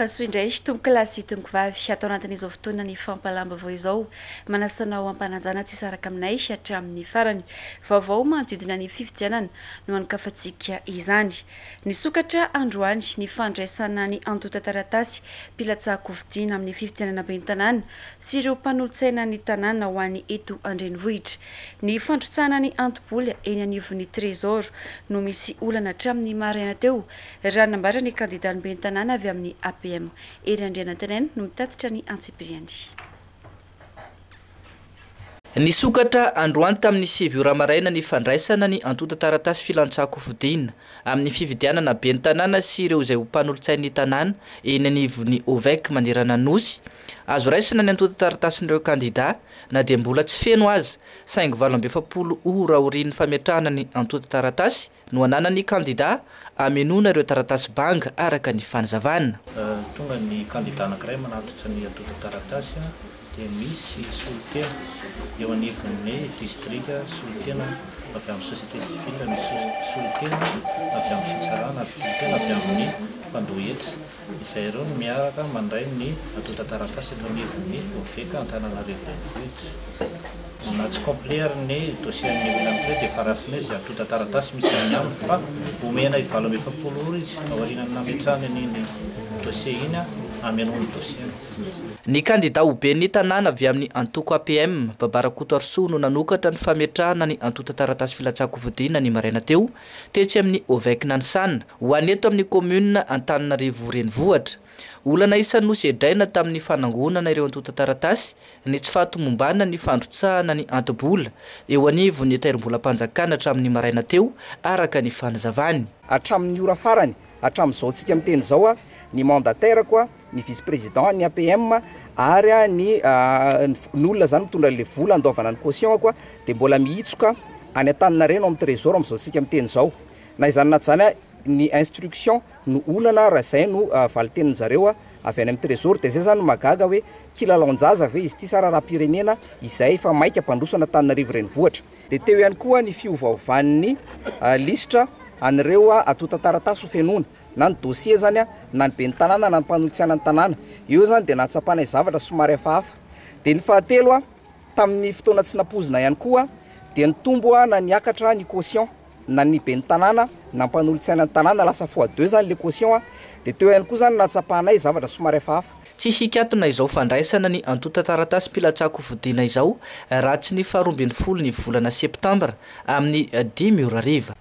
Mahasoa indray tompoko lahy sy tompoko vavy atao anatin'izao fotoana ny fampalam-baovao izao manasana ao am-panajana tsy saraka aminay hatramin'ny farany. Vaovao manodidina ny fifidianana no anokafantsika izany. Nisokatra androany ny fandraisana ny antontan-taratasy mpilatsahan-kofidina amin'ny fifidianana ben'ny tanàna sy ireo mpanolotsainan'ny tanàna ho an'ny eto an-drenivohitra. Ny fandrotsahana ny anto-bola eny anivon'ny Trésor no misy olana hatramin'ny maraina teo, raha nambara ny kandidàn'ny ben'ny tanàna avy amin'ny APM, Hery Andrianantenaina no mitatitra ny antsipiriany. Nisokatra androany tamin'ny sivy ora maraina ny fandraisana ny antontan-taratasy filantsankofidina amin'ny fifidianana ben'ny tanàna sy ireo izay ho mpanolotsain'ny tanàna eny anivon'ny OVEC manerana Anosy. Azo raisina ny antontan-taratasin'ireo kandidà na dia mbola tsy feno aza saingy valo amby efapolo ora aorian'ny fametrahana ny antontan-taratasy no ananan'ny kandidà hamenoana ireo taratasy banga araka ny fanazavana. Raha tonga ny kandidà anankiray manatitra ny antontan-taratasy dia misy solontena eo anivon'ny distrika solontena avy amin'ny société civile misy solontena avy amin'ny fitsarana ary solontena avy amin'ny mpandoa hetra. Izay ireo no miaraka mandray ny antontan-taratasy eto anivon'ny OVEC Antananarivo Renivohitra. Na tsy complet ary ny dossier an'i William Clay dia efa raisina izy, antontan-taratasy misy any aminy fa omena i valo amby efapolo ora izy aorianan'ny nametrahany an'iny dossier iny hamenoany ny dossier-ny. Ny kandida ho ben'ny tanàna avy amin'ny antoko APM, Baba Rakotoarisoa no nanokatra ny fametrahana ny antontan-taratasy filatsahan-kofidina ny maraina teo, Tetsy amin'ny Ovec Nansan, ho any eto amin'ny Kaominina Antananarivo Renivohitra. Olana isan'ny nosedraina tamin'ny fanangonana ireo antontan-taratasy ny tsy fahatomombanana ny fandrotsahana ny anto-bola eo anivon'ny Tahirimbolam-panjakana hatramin'ny maraina teo, araka ny fanazavany. Hatramin'ny ora farany, Hatramin'izao tsika miteny izao, ny mandataire-ko, ny vice président, ny APM ary ny ny fokonolona izany mitondra an'ilay vola handoavana ny caution-ko dia mbola mihitsoka any Antaninarenina ao amin'ny Trésor amin'izao tsika miteny izao. Na izany na izany, ny instruction no olana raha izay no valin-tenin'ny zareo avy any amin'ny Trésor. Dia izay izany no mahagaga hoe, kilalaon-jaza ve izy ity sa raharaha-pirenena izay efa maika hampandroso an'Antananarivo Renivohitra? Dia teo ihany koa ny fiovaovan'ny lisitra an'ireo antontan-taratasy ho fenoina, na ny dossier izany na ny ben'ny tanàna na ny mpanolotsiana ny tanàna. Eo izany dia nahatsapanay zavatra somary hafahafa. Dia ny fahatelo, tamin'ny fotoana tsy nampoizina ihany koa dia nitombo na niakatra ny quotient. na ny ben'ny tanàna na mpanolotsaina ny tanàna lasa fois deux zany le caution a! de teo ihany koa zany nahatsapanay zavatra somary hafahafa. Tsy hikatona izao fandraisana ny antontan-taratasim-pilatsako fodiana izao raha tsy ny faharoa ambin'ny folo ny volana septambra amin'ny dimy ora hariva.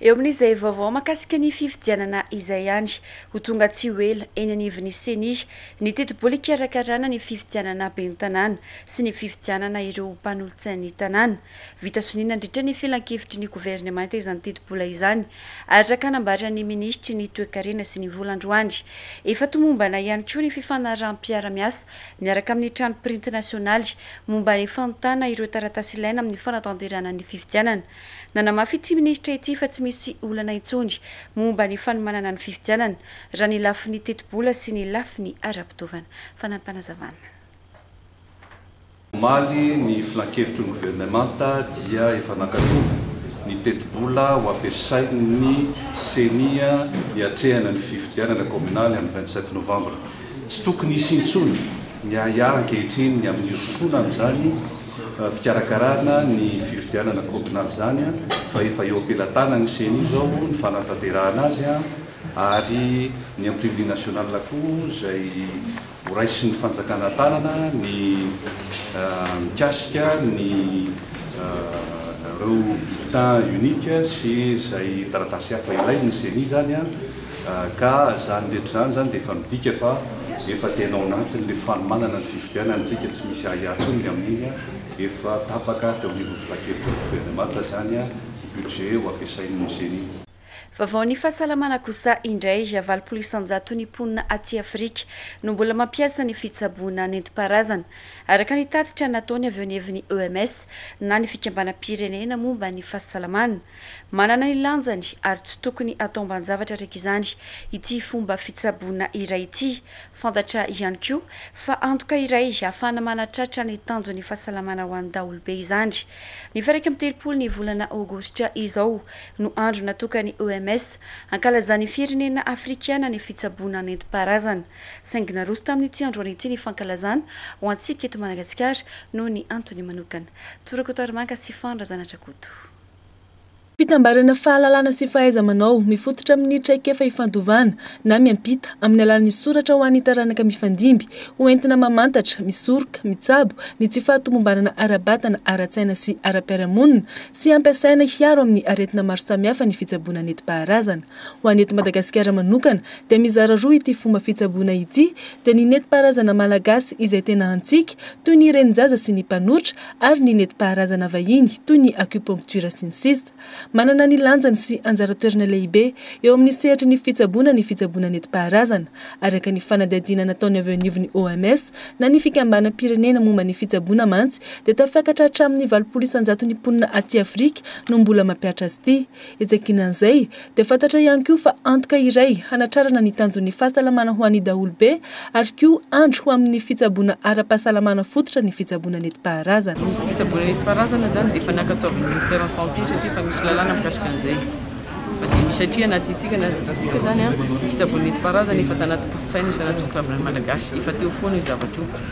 Eo amin'izay vaovao mahakasika ny fifidianana izay ihany, ho tonga tsy ho ela eny anivon'ny Ceni ny tetibola hikarakarana ny fifidianana ben'ny tanàna sy ny fifidianana ireo mpanolotsain'ny tanàna. Vita sonia nandritra ny filankevitry ny governemanta izany tetibola izany, araka nambaran'ny minisitry ny Toekarena sy ny vola androany. Efa tomombana ihany koa ny fifanaraham-piara-miasa miaraka amin'ny trano printy nasionaly momba ny fanontana ireo taratasy ilaina amin'ny fanatanterahana ny fifidianana. Nanamafy ity minisitra ity fa tsy misy olana intsony momba ny fanomanana ny fifidianana raha ny lafiny tetibola sy ny lafiny ara-pitaovana. Fanampin'Panazavana. Omaly, ny Filankevitry ny Governemanta dia efa nankatò ny tetibola ho ampiasain'ny Ceni hiatrehana ny fifidianana kaominaly amin'ny vingt sept novambra. Tsy tokony hisy intsony ny ahiahy ankehitriny ny amin'ny hirosoana amin'izany fikarakarana ny fifidianana kaominaly izany fa efa eo am-pelatanan'ny Ceni izao ny fanatanterahana azy ary ny Imprimerie Nationale koa izay Ho raisin'ny fanjakana tanana ny mikasika ny ireo bulletin unique sy izay taratasy hafa ilain'ny ceni izany ka izany rehetra izany izany dia efa midika fa efa tena ao anatin'ilay fanomanana ny fifidianana isika tsy misy ahiahy intsony ny amin'iny efa tapaka teo anivon'ny filankevitry ny governemanta izany ny budget ho ampiasain'ny ceni. Vaovaon'ny fahasalamana kosa indray, valopolo isan-jaton'ny mponina aty Afrika no mbola mampiasa ny fitsaboana nentim-paharazana, araka ny tatitra nataony avy eo anivon'ny OMS na ny Fikambanam-pirenena momba ny fahasalamana. Manana ny lanjany ary tsy tokony ataom-ban-javatra araka izany ity fomba fitsaboana iray ity, Fantatra ihany koa fa antoka iray ahafahana manatratra ny tanjon'ny fahasalamana ho an'ny daholobe izany. Ny faha iraika amby telopolo ny volana Aogositra izao no andro natokan'ny OMS hankalazan'ny firenena afrikana ny fitsaboana nentim-paharazana. Saingy naroso tamin'ny tsy androany ity ny fankalazana ho antsika eto Madagasikara noho ny antony manokana. Tsorako tarimanka sy fano Razanatrakoto. Fitambarana fahalalana sy fahaiza-manao mifototra amin'ny traikefa ifandovana na miampita amin'ny alalan'ny soratra ho an'ny taranaka mifandimby ho entina mamantatra, misoroka, mitsabo ny tsy fahatomombanana ara-batana, ara-tsaina sy ara-piarahamonina sy ampiasaina hiaro amin'ny aretina maro samihafa ny fitsaboana neti-paharazana. Ho an'ny eto Madagasikara manokana dia mizara roa ity fomba fitsaboana ity dia ny neti-paharazana malagasy izay tena antsika toy ny renin-jaza sy ny mpanotra ary ny nentim-paharazana vahiny toy ny acupuncture sy ny sisa Manana ny lanjany sy anjara toerana lehibe eo amin'ny sehatry ny fitsaboana ny fitsaboana nentim-paharazana, araka ny fanadihadiana nataony avy eo anivon'ny OMS na ny fikambanam-pirenena momba ny fitsaboana mantsy dia tafakatra hatramin'ny valopolo isan-jaton'ny mponina aty Afrika no mbola mampiatra azy ity. Etsy ankilan'izay, dia fantatra ihany koa fa antoka iray hanatrarana ny tanjon'ny fahasalamana ho an'ny daholobe ary koa andry ho amin'ny fitsaboana ara-pahasalamana fototra ny fitsaboana netim-paharazana. Ny fitsaboana netim-paharazana izany dia efa nankatoavin'ny Ministère en Santé satria efa misy lalàna mikasika an'izay. Fa dia misy satria anatintsika na ztattsika izany, ny fitsaboana netim-paharazana efa tanaty kolontsaina sy anaty toetran'ny Malagasy. Efa teo foana io zavatra io.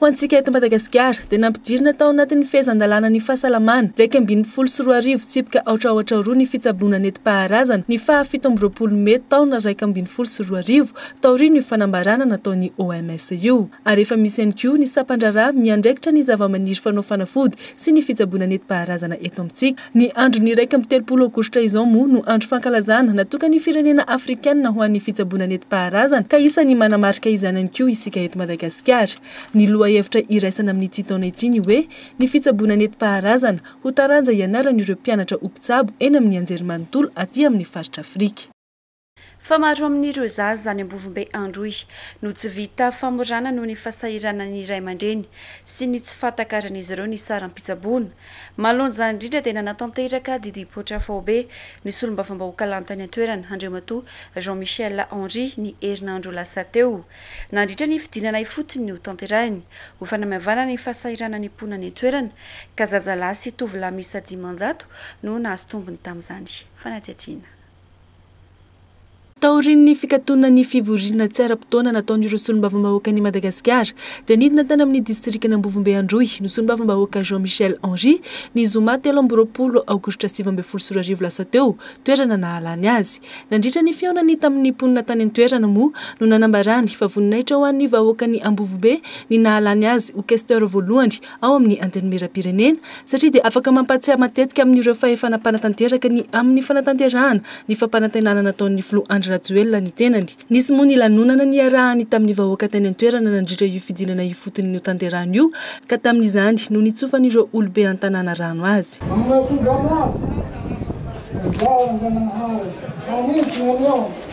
Ho antsika eto Madagasikara dia nampidirina tao anatin'ny fehezan-dalàna ny fahasalamana iraika ambin'ny folo sy roa arivo tsipika aotra aotra roa ny fitsaboana netim-paharazana ny faha fito amby roapolo mey taona iraika ambin'ny folo sy roa arivo taorian'io fanambarana nataon'ny OMS io ary efa misy ihany koa ny sampan-draharaha miandraikitra ny zavamaniry fanao fanafody sy ny fitsaboana netim-paharazana eto amintsika. Ny andron'ny iraika amby telopolo aogositra izao moa no andro fankalazana natokan'ny firenena afrikanina ho an'ny fitsaboana nentim-paharazana ka isan'ny manamarika izany ihany koa isika eto Madagasikara. Ny lohahevitra iraisana amin'ity taona ity ny hoe Ny fitsaboana nentim-paharazana ho taranja ianaran'ireo mpianatra ho mpitsabo eny amin'ny anjerimanontolo aty amin'ny faritra Afrika. Fa maro amin'ireo zaza any Ambovombe Androy no tsy vita famorana noho ny fahasahiranan'ny ray aman-dreny sy ny tsy fahatakaran'izy ireo ny saram-pitsaboana. Mahalonja indrindra dia nanatanteraka didim-poitra faobe ny solombavambahoaka lany tany an-toerana, Andriamatoa Jean Michel Henri, ny herinandro lasa teo. Nandritra ny fidinana ifotony hotanterahiny ho fanamaivanana ny fahasahiranan'ny mponina any an-toerana ka zazalahy sy tovolahy miisa dimanjato no nahazo tombony tamin'izany fanadihadiana. Taorian'ny fikatonan'ny fivoriana tsy ara-potoana nataon'ireo solombavambahoakan'i Madagasikara dia nidina tany amin'ny distrikan'Ambovombe Androy ny solombavambahoaka Jean Michel Henri ny zoma telo amby roapolo aogositra sivy ambin'ny folo sy roa arivo lasa teo, toerana nahalany azy. Nandritra ny fihaonany tamin'ny mponina tany an-toerana moa no nanambarany fa voninahitra ho an'ny vahoakan'i Ambovombe ny nahalany azy ho Questeur voalohany ao amin'ny Antenimierampirenena satria dia afaka mampahatsiahy matetika amin'ireo fahefana mpanatanteraka ny amin'ny fanatanterahana ny fampanantenana nataon'ny Filoha Andry Rajoelina ny tenany. Nisy moa ny lanonana niarahany tamin'ny vahoaka tany an-toerana nandritra io fidinana ifotony notanterahany io ka tamin'izany no nitsofan'ireo olobe an-tanàna rano azy.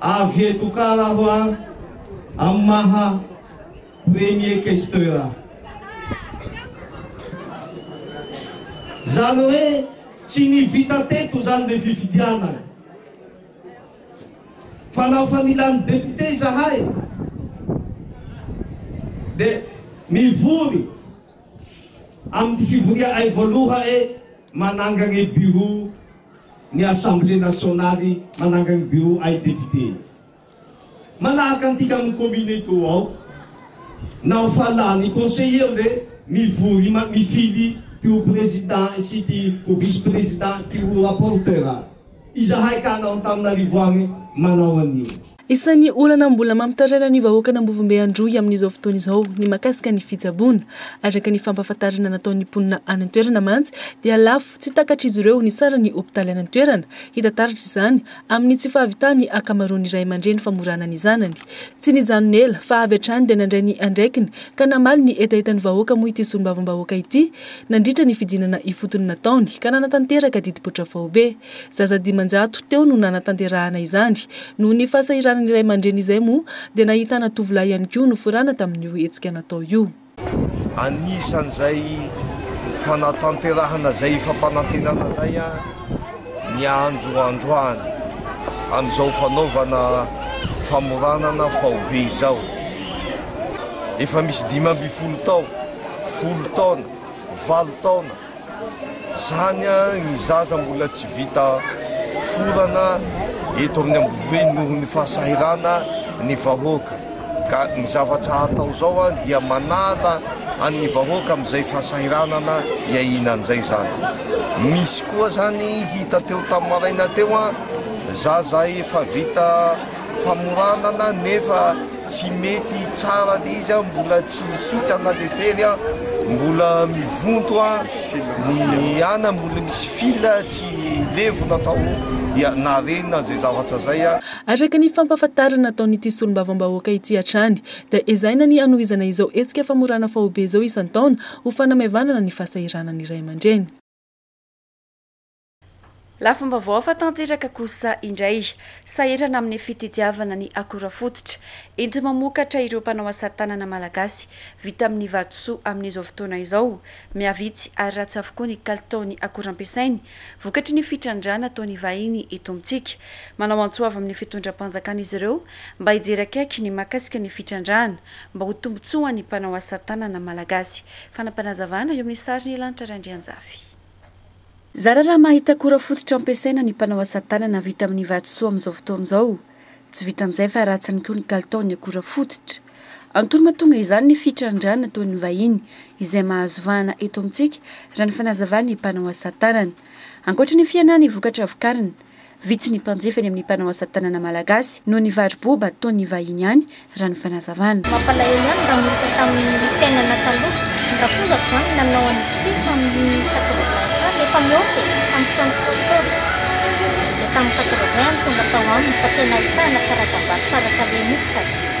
Avy eto kara aho a, amin'ny maha premier questeur ahy. Izany hoe tsy ny vita teto izany ny fifidianana. Fa na fa nila ny député izahay dia mivory amin'ny fivoriahay voaloha e. Mananga ny Bureau ny Assemblée Nationale, mananga ny Bureau ay Député. Manahaka antika amin'ny Commune eto ao, na ho fala ny Conseiller ve mivory ma mifidy ty ho Président sy ity ho Vice Président, ty ho Rapporteur. Izahay ka anao Antananarivo any manao an'io. Isan'ny olana mbola mampitaraina ny vahoakan'Ambovombe Androy amin'izao fotoana izao ny mahakasika ny fitsaboana. Araka ny fampahafantarana nataon'ny mponina any an-toerana mantsy dia lafo tsy takatr'izy ireo ny saran'ny hopitaly any an-toerana. Hita taratra izany amin'ny tsy fahavitan'ny ankamaroan'ny ray aman-dreny famorana ny zanany. Tsy nijanona ela fa avy hatrany dia nandray ny andraikiny ka namaly ny hetahetan'ny vahoaka moa ity solombavambahoaka ity nandritra ny fidinana ifotony nataony ka nanatanteraka didim-poitra faobe. Zaza dimanjato teo no nanatanterahana izany. Noho ny fahasahiranan'ny ray aman-dreny izay moa dia nahitana tovolahy ihany koa noforana tamin'io hetsika natao io. Anisan'izay fanatanterahana izay fampanantenana izay ny ahandrohandroana amin'izao fanaovana famoranana faobe izao. Efa misy dimy ambin'ny folo tao, folo taona, valo taona. Zany an ny zaza mbola tsy vita forana eto amin'ny Ambohibe noho ny fahasahirana ny vahoaka ka ny zavatra atao zao an dia manala an'ny vahoaka amin'izay fahasahiranana iainany zay zany. Misy koa zany hita teo tamin'ny maraina teo an zaza efa vita famoranana nefa tsy mety tsara le izy an, mbola tsy sitrana le fery an, mbola mivonto an, ny ana mbola misy fil tsy levona tao dia narenina zay zavatra zay an. Araka ny fampahafantarana nataon'ity solombavambahoaka ity hatrany dia ezahina ny hanohizana izao hetsika famorana faobe izao isan-taona ho fanamaivanana ny fahasahiranan'ny ray aman-dreny. Lafim-baovao hafa tanteraka kosa indray, sahirana amin'ny fitdiavana ny akora fototra enti-mamokatra ireo mpanao asa tanana malagasy vita amin'ny vatosoa amin'izao fotoana izao. Mihavitsy ary ratsy avokoa ny kalitaon'ny akora ampiasainy, vokatry ny fitrandrahana ataon'ny vahiny eto amintsika. Manao antso avo amin'ny fitondram-panjakana izy ireo mba hijery akaiky ny mahakasika ny fitrandrahana mba ho tombontsoan'ny mpanao asa tanana malagasy. Fanapanazavana eo amin'ny sarin'ny lanitra Randrianjafy. Zara raha mahita akora fototra ampiasaina ny mpanao asa tanana vita amin'ny vatosoa amin'izao fotoana izao. Tsy vitan'izay fa ratsiny koa ny kalitaon'ny akora fototra. Antony mahatonga izany ny fitrandrahana ataon'ny vahiny izay mahazo vahana eto amintsika, raha ny fanazavan'ny mpanao asa tanana. Ankoatra ny fihenan'ny vokatra vokarina, Vitsy ny mpanjifa eny amin'ny mpanao asa tanana malagasy noho ny varo-boba ataon'ny vahiny any, raha ny fanazavana. Mampalahelo ihany raha molotra tamin'ny fiainana taloha ny rafozaky izany nanao an'izy ity tamin'ny quatre vingt taona efa mihoatra e! tamin'ny soixante quatorze dia tamin'ny quatre vingt no tonga tao aminy fa tena ahitana karazam-bary tsara tarehy mihitsy ary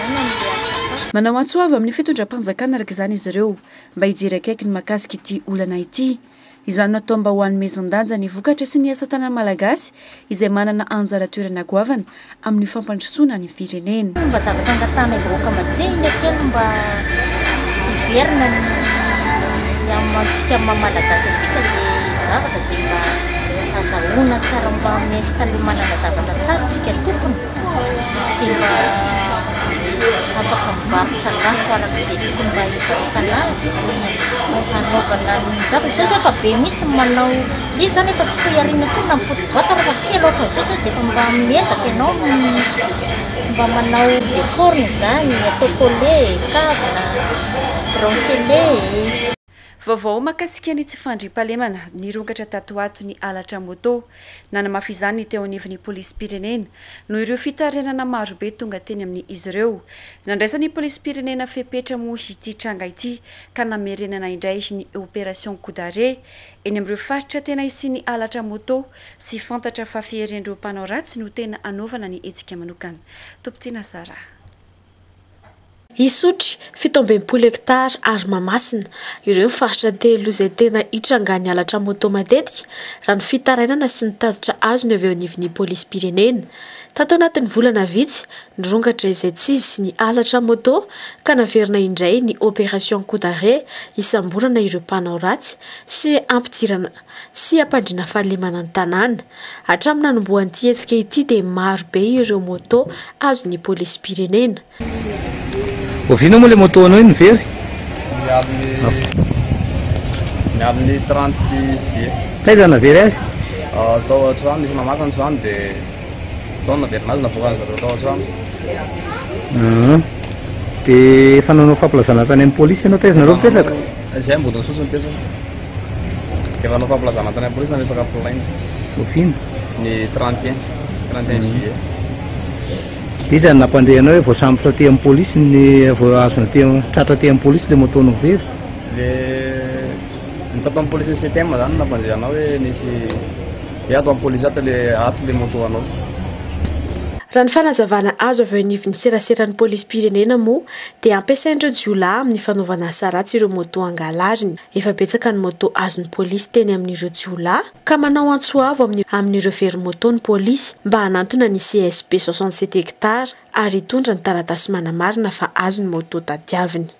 fifidianana no ilay asa atao. Manao antso avo amin'ny fitondram-panjakana araka izany izy ireo mba hijery akaiky ny mahakasika ity olana ity. Izany no atao mba ho hanomezan-danja ny vokatra sy ny asa tanan'ny Malagasy izay manana anjara toerana goavana amin'ny fampandrosoana ny firenena. Mba zavatra angatahanay vahoaka mba tsy ahiana kely mba hiverina ny amantsika maha Malagasy antsika ilay zavatra dia mba azahoana tsara mba miinstaller manana zavatra tsara tsika tompony. dia mba afaka mivarotra lafo araka izay tokony mba hivarotan azy hanaovana ny zavatra, izao zao efa be mihitsy ny manao, izy zany efa tsy foy ariana intsony na ny pôty boite ary efa kely ohatran'izao zao dia efa mba miezaka ianao mba manao décor-ny izany, atao collet, kavina, bracelet. Vaovao mahakasika ny tsy fandriampahalemana nirongatra tato ho ato ny halatra moto. Nanamafy izany ny teo anivon'ny polisim-pirenena, noho ireo fitarainana maro be tonga teny amin' izy ireo. Nandraisan'ny polisim-pirenena fepetra moa ity tranga ity ka namerenana indray ny Opération Coup d'arrêt eny amin'ireo faritra tena hisian'ny halatra moto sy fantatra fa fiherin'ireo mpanao ratsy no tena hanaovana ny hetsika manokana. Tompon-tiana Sarah. Isotry, fito ambin'ny folo hekitara, ary Mahamasina. Ireo ny faritra telo izay tena itrangan'ny halatra moto matetika, raha ny fitarainana sy ny tatitra azony avy eo anivon'ny polisim-pirenena. Tato anatin'ny volana vitsy, nirongatra izay tsy izy ny halatra moto ka naverina indray ny Opération Coup d'arrêt hisamborana ireo mpanao ratsy sy hampidirana sy hampandriana fahalemana ny tanàna. Hatramin'ny nanombohan'ity hetsika ity dia maro be ireo moto azon'ny polisim-pirenena. Oviana moa ilay moto anao iny very? Ny amin'ny ny amin'ny 30 juillet. Taiza navery azy? Tao an-trano, nisy namaky ny trano dia tao no naverina azy, navoakan'izy ireo tao an-trano. Dia efa nanao fampilazana hatrany amin'ny polisy ianao, taiza nareo mipetraka? Izay ambodiny sosy ny pejy. Efa nanao fampilazana tany am-polisy ny resaka polaina. Oviana? Ny 31, 31 mm. juillet. Iza no nampandre anao hoe voasambotra aty amin'ny polisy ny voazona aty tratra aty amin'ny polisy ilay moto novery? Le ny tato amin'ny polisy CTM izany nampandre anao hoe nisy hoe ato amin'ny polisy ato le ato le moto anao. Raha ny fanazavana azo avy eo anivon'ny seraseran'ny polisim-pirenena moa dia ampiasain'ireo jiolahy amin'ny fanaovana asa ratsy ireo moto angalariny. Efa betsaka ny moto azon'ny polisy teny amin'ireo jiolahy ka manao antso avo amin'ny amin'ireo very moto ny polisy mba hanantona ny CSP soixante sept hectares ary hitondra ny taratasy manamarina fa azy ny moto tadiaviny.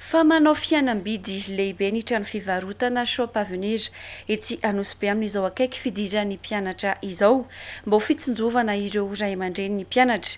Fa manao fihenam-bidy lehibe ny trano fivarotana Shop Avenir etsy Anosibe amin'izao akaiky fidiran'ny mpianatra izao mba ho fitsinjovana ireo ray aman-drenin'ny mpianatra.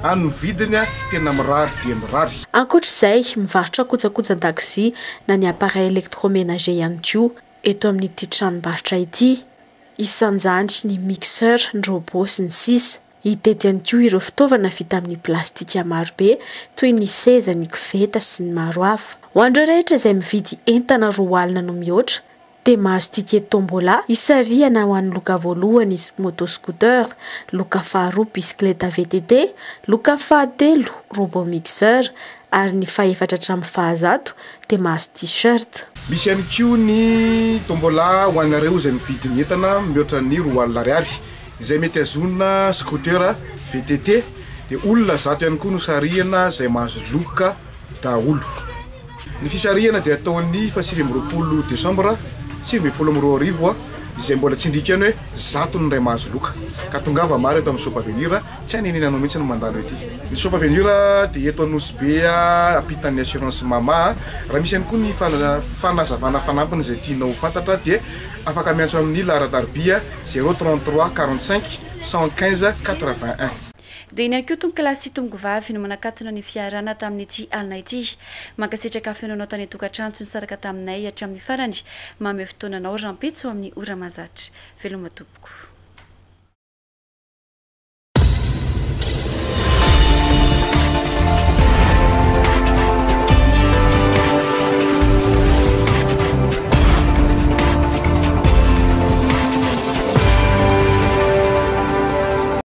Any ny vidiny tena mirary dia mirary. Ankoatra izay, mivarotra kojakoja an-dakozia na ny appareils électroménagers ihany koa eto amin'ity tranombarotra ity. Isan'izany ny mixeur, ny robot sy ny sisa. Hita eto ihany koa ireo fitaovana vita amin'ny plastika marobe toy ny seza, ny koveta sy ny maro hafa. Ho an'ireo rehetra izay mividy entana roa alina no mihoatra dia mahazo ticket tombola hisarihana ho an'ny loka voalohany moto scooter, loka faharoa bisikileta VTT, loka fahatelo robot mixeur ary ny fahefatra hatramin'ny fahazato dia mahazo t-shirt. Misy ihany koa ny tombola ho anareo izay mividy ny entana mihoatra ny roa alina ariary izay mety hazona scooter VTT dia olona zato ihany koa no sarihana izay mahazo loka. daholo. Ny fisarihana dia ataon'ny fahasivy amby roapolo desambra sivy ambin'ny folo amby roa arivo izay mbola tsindriaka ihany hoe zato ny iray mahazo loka ka tongava maro eto amin'ny Shop Avenir, tsy any an'iny anao mihitsy no mandalo ety. Ny Shop Avenir dia eto Anosibe ampitan'ny assurance mama. Raha misy ihany koa ny fanazavana fanampiny izay tianao ho fantatra dia afaka miantso amin'ny laharan-tarobia zéro trente trois quarante cinq cent quinze quatre vingt un. Dia iny ihany koa tompokolahy sy tompokovavy no manakatona ny fiaharana tamin'ity alina ity. Mankasitraka finoanao tany an-tokantrano tsy nisaraka taminay hatramin'ny farany. Mamehy fotoana anao rahampitso amin'ny ora mahazatra. Veloma tompoko.